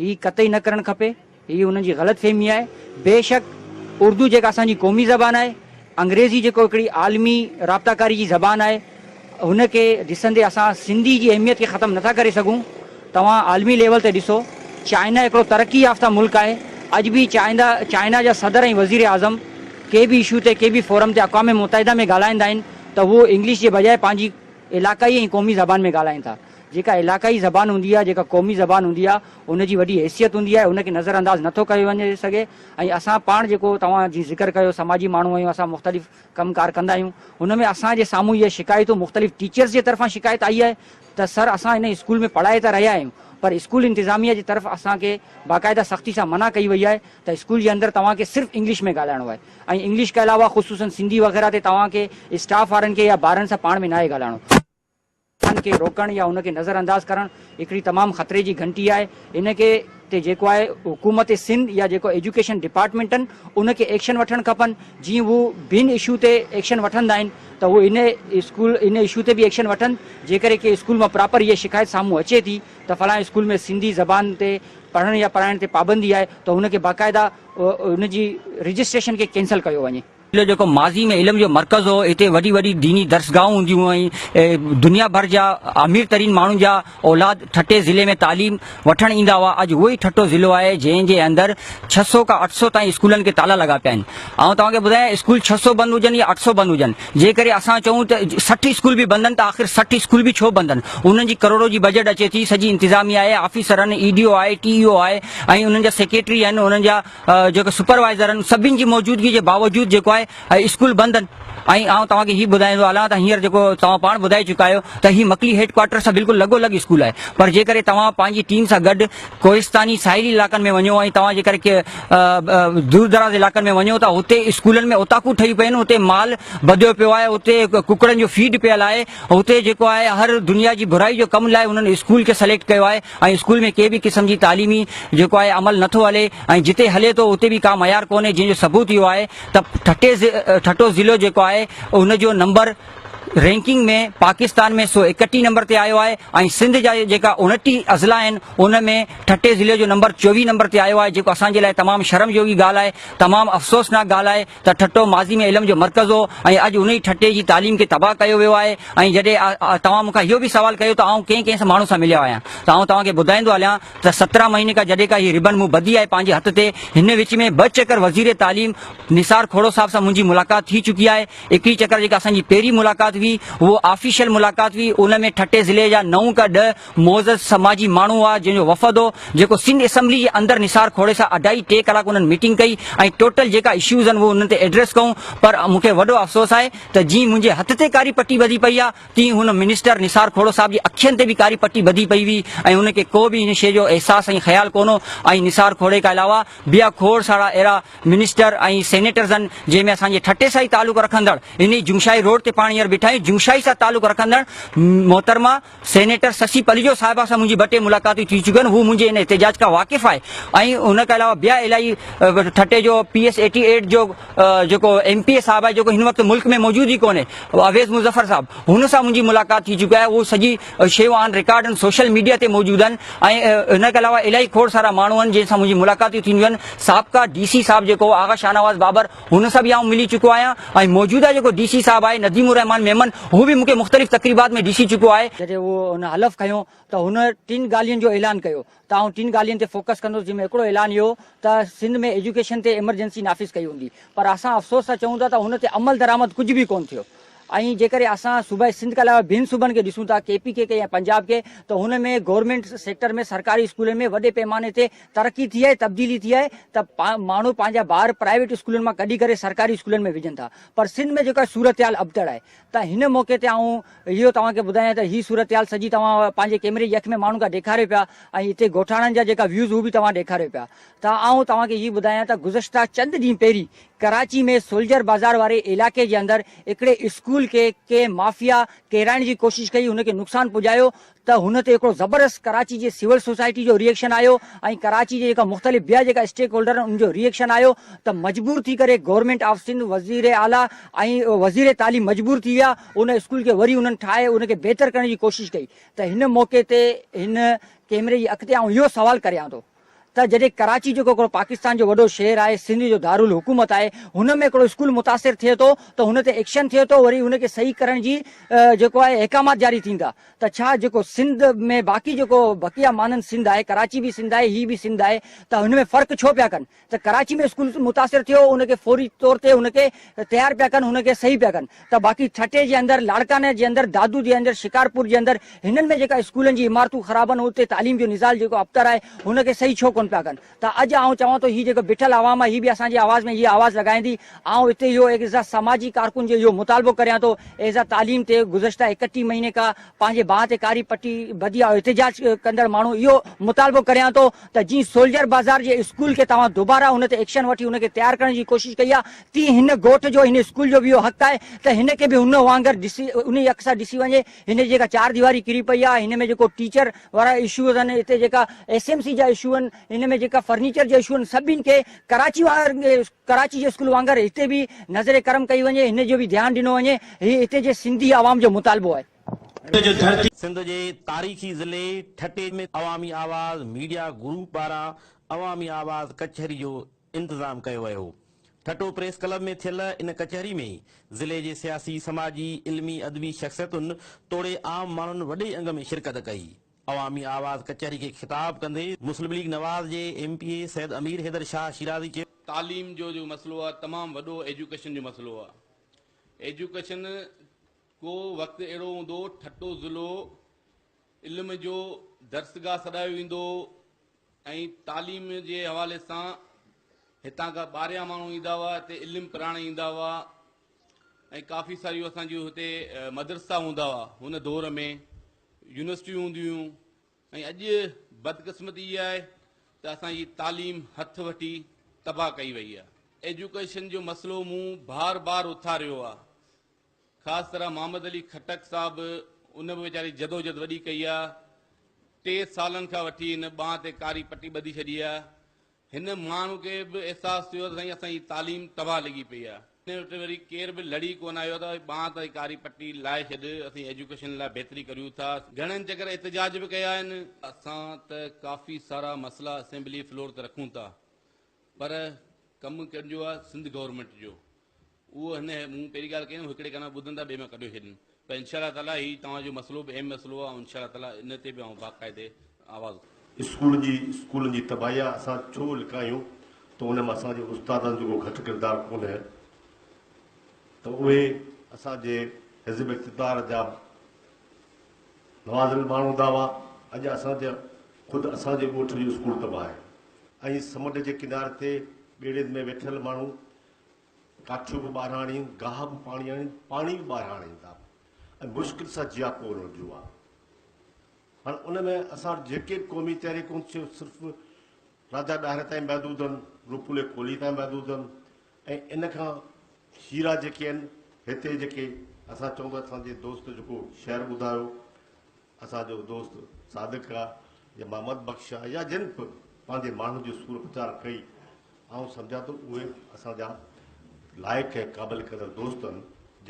هي قطعي نه ڪرڻ کپي. هي انهن جي غلط فهمي آهي. بيشڪ اردو جيڪا اسان جي قومي زبان آهي، انگريزي جيڪو هڪڙي عالمي رابطا ڪاري جي زبان آهي، ان کي ڏسندي اسان سنڌي جي اهميت کي ختم نٿا ڪري سگهون. توهان عالمي ليول تي ڏسو، چائنا هڪڙو ترقي يافته ملڪ آهي، اڄ به چائنا چائنا جا صدر ۽ وزير اعظم ڪنهن به اشو تي ڪنهن به فورم تي اقوام متحده ۾ ڳالهائيندا آهن ته هو انگلش جي بجاء پنهنجي علاقائي ۽ قومي زبان ۾ ڳالهائين ٿا. جيڪا علاقائي زبان هوندي آهي، جيڪا قومي زبان هوندي آهي، ان جي وڏي حيثيت هوندي آهي، ان کي نظر انداز نه ٿو ڪيو وڃي سگهي ۽ اسان پاڻ جيڪو توهان جيئن ذڪر ڪيو سماجي ماڻهو آهيون اسان مختلف ڪم ڪار ڪندا آهيون ان ۾ اسان جي سامهون اهي شڪايتون مختلف ٽيچرز جي طرفان شڪايت آئي آهي ته سر اسان هن اسڪول ۾ پڙهائي ته رهيا آهيون پر اسڪول انتظاميه جي طرف اسان کي باقاعده سختي سان منع ڪئي وئي آهي ته اسڪول جي اندر توهان کي صرف انگلش ۾ ڳالهائڻو آهي ۽ انگلش کي علاوه خصوصن سنڌي وغيره تي توهان کي اسٽاف وارن کي يا ٻارن سان پاڻ ۾ ناهي ڳالهائڻو. انهن کي روڪڻ يا ان کي نظر انداز ڪرڻ هڪڙي تمام خطري جي گهنٽي آهي. ان کي تي جيڪو آهي حڪومت سنڌ يا جيڪو ايجوڪيشن ڊپارٽمينٽن ان کي ايڪشن وٺڻ کپن جي هو بين اشو تي ايڪشن وٺندا آهن ته هو ان اسڪول ان اشو تي به ايڪشن وٺن جيڪڏهن ڪنهن اسڪول مان پراپر هيء شڪايت سامهون اچي ٿي ته فلانء اسڪول ۾ سنڌي زبان تي پڙهڻ يا پڙهائڻ تي پابندي آهي ته ان کي باقاعده ان جي رجسٽريشن کي ڪينسل ڪيو وڃي. ضلعو جيڪو ماضي ۾ علم جو مرڪز هو، هتي وڏي وڏي ديني درسگاهون هونديون هيون ۽ دنيا ڀر جا امير ترين ماڻهن جا اولاد ٺٽي ضلعي ۾ تعليم وٺڻ ايندا هئا. اڄ اهو ئي ٺٽو ضلعو آهي جنهن جي اندر ڇهه سؤ کان اٺ سؤ تائين اسڪولن کي تالا لڳا پيا آهن. آئون توهان کي ٻڌايان اسڪول ڇهه سؤ بند هجن يا اٺ سؤ بند هجن جنهن ڪري اسان چئون ته سٺ اسڪول به بند آهن ته آخر سٺ اسڪول به ڇو بند آهن انهن جي ڪروڙو جي بجيٽ اچي ٿي سڄي انتظاميا آهي آفيسر آهن اي ڊي او آهي ٽي اي او آهي ۽ انهن جا سيڪريٽري آهن انهن جا جيڪو سپروائيزر آهن سڀني جي موجودگي جي باوجود جيڪو آهي اسڪول بند آهن ۽ آئون توهان کي هي ٻڌائيندو هلان ته هينئر جيڪو توهان پاڻ ٻڌائي چڪا آهيو ته هي مڪلي هيڊ ڪوارٽر سان بلڪل لڳو لڳ اسڪول آهي پر جيڪڏهن توهان پنهنجي ٽيم سان گڏ ڪوهستاني ساحلي علائقن ۾ وڃو ۽ توهان جيڪڏهن دور دراز علائقن ۾ وڃو ته هتي اسڪولن ۾ اوطاقون ٺهي پيون هتي مال ٻڌيو پيو آهي هتي ڪڪڙن جو فيڊ پيل آهي هتي جيڪو آهي هر دنيا جي برائي جو ڪم لاء هنن اسڪول کي سليڪٽ ڪيو آهي ۽ اسڪول ۾ ڪنهن به قسم جي تعليمي جيڪو آهي عمل نه ٿو هلي ۽ جتي هلي ٿو اتي به ڪا معيار ڪونهي جنهن جو ثبوت اهو آهي ته ٺٽي ٺٽو ضلعو جيڪو آهي ان جو نمبر رينڪنگ ۾ پاڪستان ۾ سو اڪٽيهه نمبر تي آيو آهي ۽ سنڌ جا جيڪا انٽيهه اضلاع آهن ان ۾ ٺٽي ضلعي جو نمبر چويهه نمبر تي آيو آهي جيڪو اسان جي لاء تمام شرم جوڳي ڳالهه آهي تمام افسوسناڪ ڳالهه آهي ته ٺٽو ماضي ۾ علم جو مرڪز هو ۽ اڄ انهي ٺٽي جي تعليم کي تباهه ڪيو ويو آهي ۽ جڏهن توهان مون کان اهو به سوال ڪيو ته آئون ڪنهن ڪنهن ماڻهو سان مليو آهيان ته آئون توهان کي ٻڌائيندو هليان ته سترهن مهيني کان جڏهن کان هي ربن مون ٻڌي آهي پنهنجي هٿ تي هن وچ ۾ ٻه چڪر وزير تعليم نثار کهڙو صاحب سان منهنجي ملاقات ٿي چڪي آهي هڪڙي چڪر جيڪا اسان جي پهرين ملاقات هئي اهو آفيشل ملاقات هئي ان ۾ ٺٽي ضلعي جا نو کان ڏهه معزز سماجي ماڻهو هئا جنهن جو وفد هو جيڪو سنڌ اسيمبلي جي اندر نثار کوڙي سان اڍائي ٽي ڪلاڪ انهن ميٽنگ ڪئي ۽ ٽوٽل جيڪا اشيوز آهن اهي انهن تي ايڊريس ڪئون پر مون کي وڏو افسوس آهي ته جيئن منهنجي هٿ تي ڪاري پٽي ٻڌي پئي آهي تيئن هن منسٽر نثار کهوڙو صاحب جي اکين تي به ڪاري پٽي ٻڌي پئي هئي ۽ ان کي ڪو به ان شيء جو احساس ۽ خيال ڪون هو ۽ نثار کوڙي کان علاوه بيا کوڙ سارا اهڙا منسٽر ۽ سينيٽرز آهن جنهن ۾ اسان جي ٺٽي سان ئي تعلق رکندڙ انهي جمشائي روڊ تي پاڻ هينئر بيٺا آهيون جمشائي سان تعلق رکندڙ محترمه سينيٽر سسي پليجو صاحبه سان منهنجي ٻه ٽي ملاقاتون ٿي چڪيون آهن، هو منهنجي ان احتجاج کان واقف آهي ۽ ان کان علاوه بيا الاهي ٺٽي جو پي ايس ايٽي ايٽ جو جيڪو ايم پي اي صاحب آهي جيڪو هن وقت ملڪ ۾ موجود ئي ڪونهي اويس مظفر صاحب هن سان منهنجي ملاقات ٿي چڪي آهي اهو سڄي شيون آن رڪارڊ آهن سوشل ميڊيا تي موجود آهن ۽ ان کان علاوه الاهي کوڙ سارا ماڻهو آهن جن سان منهنجي ملاقاتون ٿينديون آهن سابقا ڊي سي صاحب جيڪو آغا شاهنواز بابر هن سان به آئون ملي چڪو آهيان ۽ موجوده جيڪو ڊي سي صاحب آهي نديم الرحمان ميمن هو به مونکي مختلف تقريبات ۾ ڏسي چڪو آهي. جڏهن هو هن حلف کنيو ته هن ٽن ڳالهين جو اعلان ڪيو ته آئون ٽن ڳالهين تي فوڪس ڪندس جن ۾ هڪڙو اعلان اهو ته سنڌ ۾ ايجوڪيشن تي ايمرجنسي نافذ ڪئي وندي پر اسان افسوس سان چئون ٿا ته ان تي عملدرآمد ڪجهه به ڪون ٿيو ۽ جيڪڏهن اسان صوبائي سنڌ کان علاوه ٻين صوبن کي ڏسون ٿا ڪي پي ڪي کي يا پنجاب کي ته هن ۾ گورنمينٽ سيڪٽر ۾ سرڪاري اسڪولن ۾ وڏي پيماني تي ترقي ٿي آهي تبديلي ٿي آهي ته ماڻهو پنهنجا ٻار پرائيويٽ اسڪولن مان ڪڍي ڪري سرڪاري اسڪولن ۾ وجهن ٿا پر سنڌ ۾ جيڪا صورتحال ابتڙ آهي ته هن موقعي تي آئون اهو توهان کي ٻڌايان ته هي صورتحال سڄي توهان پنهنجي ڪيمري جي اک ۾ ماڻهن کان ڏيکاريو پيا ۽ اتي ڳوٺاڻن جا جيڪا ويوز هو به توهان ڏيکاريو پيا ته آئون توهان کي هي ٻڌايان ته گذشته چند ڏينهن پهرين ڪراچي ۾ سولجر بازار واري علائقي جي اندر هڪڙي اسڪول کي ڪنهن مافيا ڪيرائڻ جي ڪوشش ڪئي ان کي نقصان پڄايو ته هن تي هڪڙو زبردست ڪراچي جي سول سوسائٽي جو ري ايڪشن آيو ۽ ڪراچي جي جيڪا مختلف ٻيا جيڪا اسٽيڪ هولڊر آهن ان جو ري ايڪشن آيو ته مجبور ٿي ڪري گورنمينٽ آف سنڌ وزير اعلي ۽ وزير تعليم مجبور ٿي ويا ان اسڪول کي وري انهن ٺاهي ان کي بهتر ڪرڻ جي ڪوشش ڪئي ته هن موقعي تي هن ڪيمري جي اڳتي آئون اهو سوال ڪريان ٿو. ته جڏهن ڪراچي جيڪو هڪڙو پاڪستان جو وڏو شهر آهي سنڌ جو دارالحڪومت آهي هن ۾ هڪڙو اسڪول متاثر ٿئي ٿو ته هن تي ايڪشن ٿئي ٿو وري ان کي صحيح ڪرڻ جي جيڪو آهي احڪامات جاري ٿيندا ته ڇا جيڪو سنڌ ۾ باقي جيڪو بقيه مانند سنڌ آهي ڪراچي به سنڌ آهي هي به سنڌ آهي ته هن ۾ فرق ڇو پيا ڪن ته ڪراچي ۾ اسڪول متاثر ٿيو ان کي فوري طور تي ان کي تيار پيا ڪن ان کي صحيح پيا ڪن ته باقي ٺٽي جي اندر، لاڙڪاڻي جي اندر، دادو جي اندر، شڪارپور جي اندر هنن ۾ جيڪا اسڪولن جي عمارتون خراب آهن اتي تعليم جو نظال جيڪو ابتر آهي هن کي صحيح ڇو ڪونه پيا ڪن ته اڄ آئون چوان ٿو هي جيڪو بيٺل عوام آهي هي به اسان جي آواز ۾ هي آواز لڳائيندي آئون هتي اهو ايز اي سماجي ڪارڪن جو اهو مطالبو ڪريان ٿو ايز اي تعليم تي گذشته اڪٽيهه مهيني کان پنهنجي بانهه تي ڪاري پٽي ٻڌي آئون احتجاج ڪندڙ ماڻهو اهو مطالبو ڪريان ٿو ته جي سولجر بازار جي اسڪول کي توهان دوباره ان تي ايڪشن وٺي ان کي تيار ڪرڻ جي ڪوشش ڪئي آهي تي هن ڳوٺ جو هن اسڪول جو به اهو حق آهي ته هن کي به هن وانگر ڏسي انهي اک سان ڏسي وڃي هن جي جيڪا چار ديواري ڪري پئي آهي هن ۾ جيڪو ٽيچر وارا اشو اٿن هتي جيڪا ايس ايم سي جا اشو آهن هن ۾ جيڪا فرنيچر جا اشو آهن سڀني کي ڪراچي وانگر ڪراچي جي اسڪول وانگر هتي به نظر ڪرم ڪئي وڃي هن جو به ڌيان ڏنو وڃي هي هتي جي سنڌي عوام جو مطالبو آهي. سنڌ جي تاريخي ضلعي ٺٽي ۾ عوامي آواز ميڊيا گروپ پاران عوامي آواز ڪچهري جو انتظام ڪيو ويو. ٺٽو پريس ڪلب ۾ ٿيل ان ڪچهري ۾ ضلعي جي سياسي، سماجي، علمي، ادبي شخصيتن توڙي عام ماڻهن وڏي انگ ۾ شرڪت ڪئي. عوامي آواز ڪچهري کي خطاب ڪندي مسلم ليگ نواز جي M P A Syed Amir Haider Shah Shirazi چيو. تعليم جو جيڪو مسئلو آهي تمام وڏو ايجوڪيشن جو مسئلو آهي ايجوڪيشن ڪو وقت اهڙو هوندو ٺٽو ضلعو علم جو درسگاهه سڏايو ويندو ۽ تعليم جي حوالي سان هتان کان ٻاهريان ماڻهو ايندا هئا هتي علم پراڻ ايندا هئا ۽ ڪافي ساريون اسان جون هتي مدرسا هوندا هئا هن دور ۾ يونيورسٽيون هونديون هيون ۽ اڄ بدقسمتي اها آهي ته اسان جي تعليم هٿ وٺي تباهه ڪئي وئي آهي ايجوڪيشن جو مسئلو مون بار بار اٿاريو آهي خاص طرح محمد علي خٽڪ صاحب ان به ويچاري جدوجھد وڏي ڪئي آ ٽي سالن کان وٺي هن ٻانهن تي ڪاري پٽي ٻڌي ڇڏي آ هن ماڻهو کي به احساس ٿيو ته سائين اسان جي تعليم تباهه لڳي پئي آ هن وٽ وري ڪير به لڙي ڪونه آيو ته ٻانهن تي ڪاري پٽي لائي ڇڏ اسين ايجوڪيشن لاء بهتري ڪريون ٿا گھڻن چڪر احتجاج به ڪيا آهن اسان ته ڪافي سارا مسئلا اسيمبلي فلور تي رکون ٿا پر ڪم ڪنهن جو آ سنڌ گورنمينٽ جو اهو هن مون پهرين ڳالهه ڪيم هڪڙي ڪان ٻڌن ته ٻئي مان ڪڍيو ڇڏين پر انشاء الله تعالي هي توهان جو مسئلو به اهم مسئلو آهي ۽ انشاء الله تعالي ان تي به آئون باقاعدي آواز اٿاريندس. اسڪولن جي اسڪولن جي تباهيان اسان ڇو لڪايون ته ان ۾ اسان جي استادن جو ڪو گهٽ ڪردار ڪونهي ته اهي اسان جي حزب اقتدار جا نوازل ماڻهو هوندا هئا اڄ اسان جا خود اسان جي ڳوٺ جو اسڪول تباهه آهي ۽ سمنڊ جي ڪناري تي ٻيڙين ۾ ويٺل ماڻهو ڪاٺيون به ٻاهران آڻين، گاهه به پاڻي آڻين، پاڻي به ٻاهران آڻين ٿا ۽ مشڪل سان جيا پوء هن جون آهن. هاڻ ان ۾ اسان وٽ جيڪي به قومي تحريڪون سي صرف راجا ڏاهر تائين محدود آهن، روپولي ڪولهي تائين محدود آهن ۽ ان کان هيرا جيڪي آهن هتي جيڪي اسان چئون ٿا اسان جي دوست جيڪو شعر ٻڌايو اسان جو دوست صادق آ يا محمد بخش آ يا جن به پنهنجي ماڻهن جي سور پچار ڪئي آئون سمجهان ٿو اهي اسان جا لائق ۽ قابل قدر دوست آهن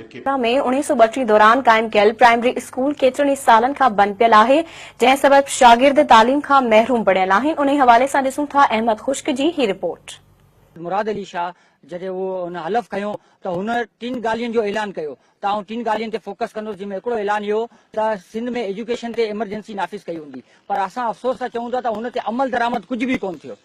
جيڪي ۾ اڻيهه سو ٻٽيهه دوران قائم ڪيل پرائمري اسڪول ڪيترن ئي سالن کان بند پيل آهي جنهن سبب شاگرد تعليم کان محروم بڻيل آهن انهي حوالي سان ڏسون ٿا احمد خشڪ جي هي رپورٽ. مراد علي شاهه جڏهن اهو هن حلف کنيو ته هن ٽن ڳالهين جو اعلان ڪيو ته آئون ٽن ڳالهين تي فوڪس ڪندس جن ۾ هڪڙو اعلان اهو ته سنڌ ۾ ايجوڪيشن تي ايمرجنسي نافذ ڪئي هوندي پر اسان افسوس سان چئون ٿا ته ان تي عمل درآمد ڪجهه به ڪونه ٿيو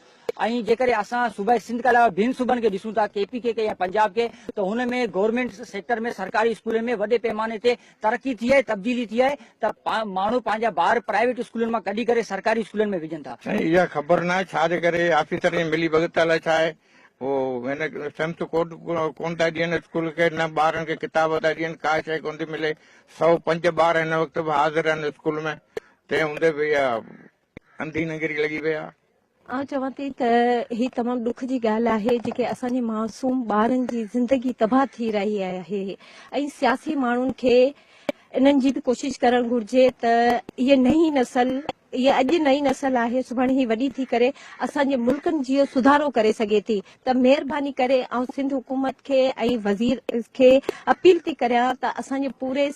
۽ جيڪڏهن اسان صوبائي سنڌ کان علاوه ٻين صوبن کي ڏسون ٿا ڪي پي ڪي ڪي يا پنجاب کي ته هن ۾ گورنمينٽ سيڪٽر ۾ سرڪاري اسڪولن ۾ وڏي پيماني تي ترقي ٿي آهي تبديلي ٿي آهي ته ماڻهو پنهنجا ٻار پرائيويٽ اسڪولن مان ڪڍي ڪري سرڪاري اسڪولن ۾ وجهن ٿا. سائين اها خبر ناهي ڇا جي ڪري آفيسر ائين ملي ڀڳت الاء ڇا آهي هو هن سمٿ ڪوٽ ڪونه ٿا ڏين اسڪول کي، نه ٻارن کي ڪتاب ٿا ڏين، ڪا شيء ڪونه ٿي ملي. سؤ پنج ٻار هن وقت به حاضر آهن اسڪول ۾، تنهن هوندي به اها انڌي ننگري لڳي پئي آهي. آئون چوان ٿي ته هي تمام ڏک جي ڳالهه آهي جيڪي اسان جي معصوم ٻارن جي زندگي تباهه ٿي رهي آهي ۽ سياسي ماڻهن کي انهن جي به ڪوشش ڪرڻ گهرجي ته هيء نئين نسل اها اڄ نئين نسل آهي سڀاڻي هي وڏي ٿي ڪري اسان جي ملڪن جيو سڌارو ڪري سگهي ٿي ته مهرباني ڪري آئون سنڌ حڪومت کي ۽ وزير کي اپيل ٿي ڪريان ته اسان جي پوري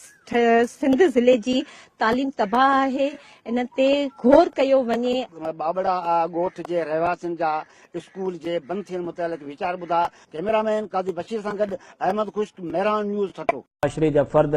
سنڌ ضلعي جي تعليم تباهه آهي ان تي غور ڪيو وڃي. ٻاٻڙا ڳوٺ جي رهواسين جا اسڪول جي بند ٿيڻ متعلق ويچار ٻڌا، ڪئميرا مين قاضي بشير سان گڏ احمد خشڪ، مهراڻ نيوز، ٺٽو. معاشري جا فرد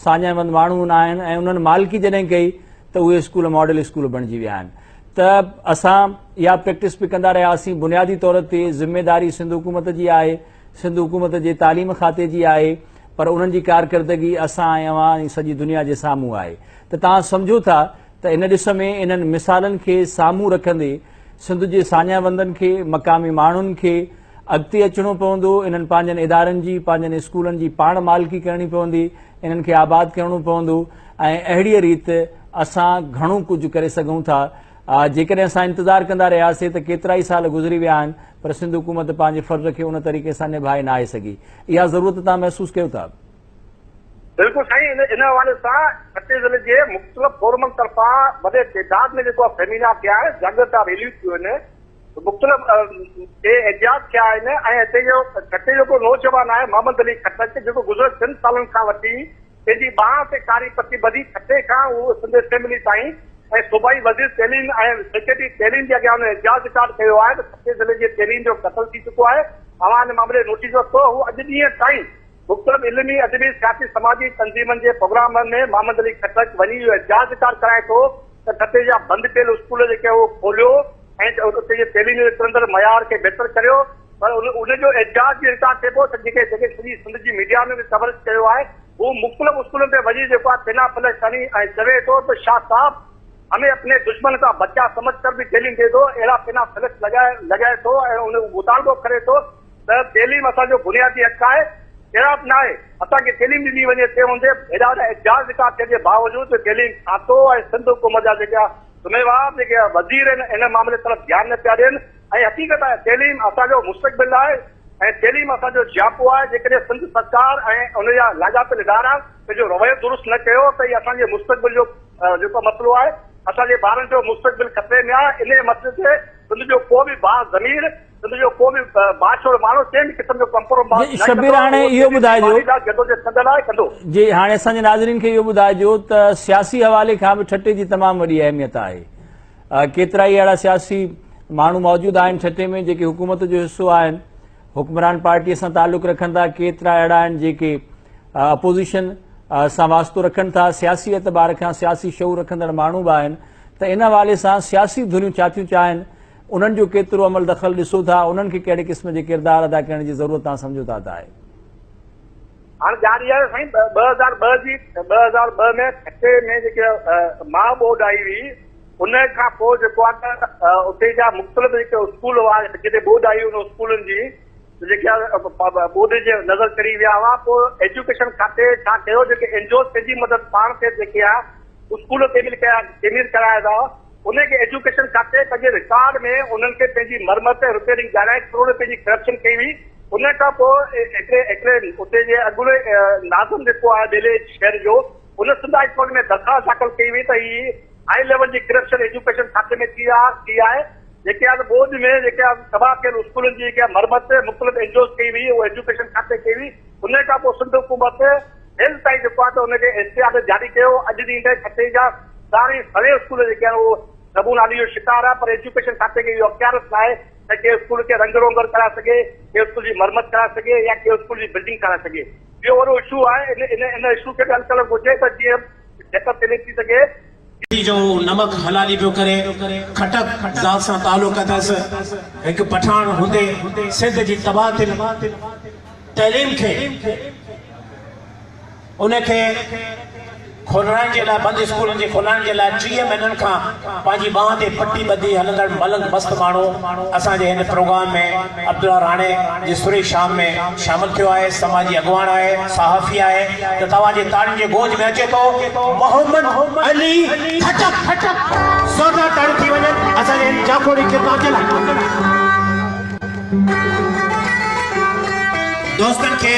ساڃاهيوند ماڻهو هوندا آهن ۽ انهن مالڪي جڏهن ڪئي ته اهي اسڪول ماڊل اسڪول بڻجي ويا آهن ته اسان اها پريڪٽس به ڪندا رهياسين بنيادي طور تي ذميواري سنڌ حڪومت جي آهي سنڌ حڪومت جي تعليم کاتي جي آهي پر انهن جي ڪارڪردگي اسان ۽ اوهان ۽ سڄي دنيا جي سامهون آهي ته توهان سمجهو ٿا ته ان ڏس ۾ انهن مثالن کي سامهون رکندي سنڌ جي ساڃاهوندن کي، مقامي ماڻهن کي اڳتي اچڻو پوندو، انهن پنهنجن ادارن جي، پنهنجن اسڪولن جي پاڻ مالڪي ڪرڻي پوندي، انهن کي آباد ڪرڻو پوندو ۽ اهڙيء ريت اسان گهڻو ڪجهه ڪري سگهون ٿا. جيڪڏهن اسان انتظار ڪندا رهياسي ته ڪيترائي سال گذري ويا آهن پر سنڌ حڪومت پنهنجي فرض کي ان طريقي سان نڀائي ناهي سگهي. اها ضرورت توهان محسوس ڪيو ٿا؟ بلڪل سائين ان حوالي سان ٺٽي ضلعي جي مختلف فورمن طرفان وڏي تعداد ۾ جيڪو سيمينار ٿيا آهن جاگرت جا ريليون ٿيون آهن مختلف ٽي احتجاج ٿيا آهن ۽ هتي جو ٺٽي جو ڪو نوجوان آهي محمد علي خٽڪ جيڪو گذريل ٽن سالن کان وٺي پنهنجي ٻانهن تي ڪاري پٽي ٻڌي ٺٽي کان اهو سنڌ اسيمبلي تائين ۽ صوبائي وزير تعليم ۽ سيڪريٽري تعليم جي اڳيان ان احتجاج رڪارڊ ڪيو آهي ته ٺٽي ضلعي جي تيرين جو قتل ٿي چڪو آهي اوهان ان معاملي جو نوٽيس ورتو هو اڄ ڏينهن تائين مختلف علمي، ادبي، سياسي، سماجي تنظيمن جي پروگرامن ۾ محمد علي خٽڪ وڃي اهو احتجاج به ڪار ڪرائي ٿو ته ٺٽي جا بند پيل اسڪول جيڪي اهو کوليو ۽ اتي جي تعليم جي وڪرندڙ معيار کي بهتر ڪريو پر ان جو احتجاج به انڪار ٿئي پيو ته جيڪي جيڪي سڄي سنڌ جي ميڊيا ۾ به ڪوريج ڪيو آهي هو مختلف اسڪولن تي وڃي جيڪو آهي ٿيلها پلها کڻي ۽ چوي ٿو ته شاهه صاحب همي اپني دشمن ڪا بچا سمجهه ڪر به تعليم دي دو اهڙا ٿيلها پلها لڳائي لڳائي ٿو ۽ ان مطالبو ڪري ٿو ته تعليم اسان جو بنيادي حق آهي، اهڙا به ناهي اسان کي تعليم ڏني وڃي تنهن هوندي به هيڏا وڏا احتجاج رڪارڊ ٿيڻ جي باوجود به تعليم کاتو ۽ سنڌ حڪومت جا جيڪا ذميوار جيڪي وزير آهن ان معاملي طرف ڌيان نه پيا ڏين ۽ حقيقت آهي تعليم اسان جو مستقبل آهي ۽ تعليم اسان جو جياپو آهي جيڪڏهن سنڌ سرڪار ۽ ان جا لاڳاپيل ادارا پنهنجو رويو درست نه ڪيو ته هي اسان جي مستقبل جو جيڪو مسئلو آهي اسان جي ٻارن جو مستقبل خطري ۾ آهي انهي مسئلي تي سنڌ جو ڪو به باضمير سنڌ جو ڪو به بااثر ماڻهو ڪنهن به قسم جو ڪمپرومائز نه ڪندو. شبير هاڻي اهو ٻڌائجو جي هاڻي اسان جي ناظرين کي اهو ٻڌائجو ته سياسي حوالي کان به ٺٽي جي تمام وڏي اهميت آهي ڪيترا ئي اهڙا سياسي ماڻهو موجود آهن ٺٽي ۾ جيڪي حڪومت جو حصو آهن حڪمران پارٽي سان تعلق رکن ٿا ڪيترا اهڙا آهن جيڪي اپوزيشن سان واسطو رکن ٿا سياسي اعتبار کان سياسي شعور رکندڙ ماڻهو به آهن ته ان حوالي سان سياسي ڌريون ڇا ٿيون چاهن انهن جو ڪيترو عمل دخل ڏسو ٿا، انهن کي ڪهڙي قسم جي ڪردار ادا ڪرڻ جي ضرورت توهان سمجهو ٿا ته آهي؟ هاڻي ڳالهه اها آهي سائين ٻه هزار ٻه جي ٻه هزار ٻه ۾ ٺٽي ۾ جيڪي ماء ٻوڏ آئي هئي ان کان پوء جيڪو آهي ته اتي جا مختلف جيڪي اسڪول هئا جتي ٻوڏ آئي ان اسڪولن جي جيڪي ٻوڏ جي نظر چڙهي ويا هئا پوء ايجوڪيشن کاتي ڇا ڪيو جيڪي اينجوز پنهنجي مدد پاڻ تي جيڪي آهي اسڪول تعمير ڪيا تعمير ڪرايا ويا انهن کي ايجوڪيشن کاتي پنهنجي رڪارڊ ۾ انهن کي پنهنجي مرمت ۽ رپيئرنگ ڄاڻائي ڪروڙين رپين جي ڪرپشن ڪئي هئي ان کان پوء هڪڙي هڪڙي اتي جي اڳوڻي ناظم جيڪو آهي ٻيلي شهر جو ان سنڌ هاء ڪورٽ ۾ درخواست داخل ڪئي هئي ته هي هاء ليول جي ڪرپشن ايجوڪيشن کاتي ۾ ٿي آهي جيڪي آهي ٻوڏ ۾ جيڪي تباهه ٿيل اسڪولن جي جيڪي مرمت مختلف اين جي اوز ڪئي هئي اهو ايجوڪيشن کاتي ڪئي هئي ان کان پوء سنڌ حڪومت هيل تائين جيڪو آهي ته ان کي اشتهار جاري ڪيو ويو اڄ ڏينهن تائين ٺٽي جا ساري سوين اسڪول جيڪي آهن اهو نبو نالي جو شڪار آهن پر ايجوڪيشن کاتي کي اهو اختيارس ناهي ته ڪنهن اسڪول کي رنگ روغن ڪرائي سگهي ڪنهن اسڪول جي مرمت ڪرائي سگهي يا ڪنهن اسڪول جي بلڊنگ ٺاهرائي سگهي اهو وڏو اشو آهي ان ان اشو کي به حل ڪرڻ گهرجي ته جيئن بهتر تعليم ٿي سگهي. ڳڙهي جو نمڪ حلالي پيو ڪري، خٽڪ ذات سان تعلق اٿس، هڪ پٺاڻ هوندي سنڌ جي تبادل تعليم کي ان کي کولرائڻ جي لاء بند اسڪولن جي کولائڻ جي لاء ٽيهه مهينن کان پنهنجي ٻانهن تي پٽي ٻڌي هلندڙ ملنگ مست ماڻهو اسان جي هن پروگرام ۾ عبدالله راڻي جي سري شام ۾ شامل ٿيو آهي، سماجي اڳواڻ آهي، صحافي آهي ته توهان جي تاڙين جي گونج ۾ اچي ٿو محمد علي خٽڪ زوردار تاڙيون ٿي وڃن اسان جي هن جاکوڙي ڪردار جي لاء. دوستن کي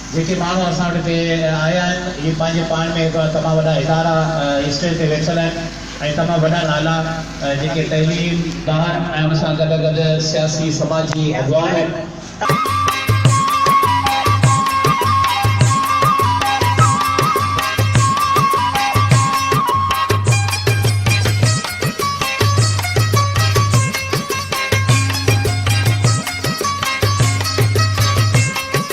جيڪي ماڻهو اسان وٽ هتي آيا آهن اهي پنهنجي پاڻ ۾ هڪڙا تمام وڏا ادارا اسٽيج تي ويٺل آهن ۽ تمام وڏا نالا جيڪي تعليم دان ۽ ان سان گڏ گڏ سياسي سماجي اڳواڻ آهن.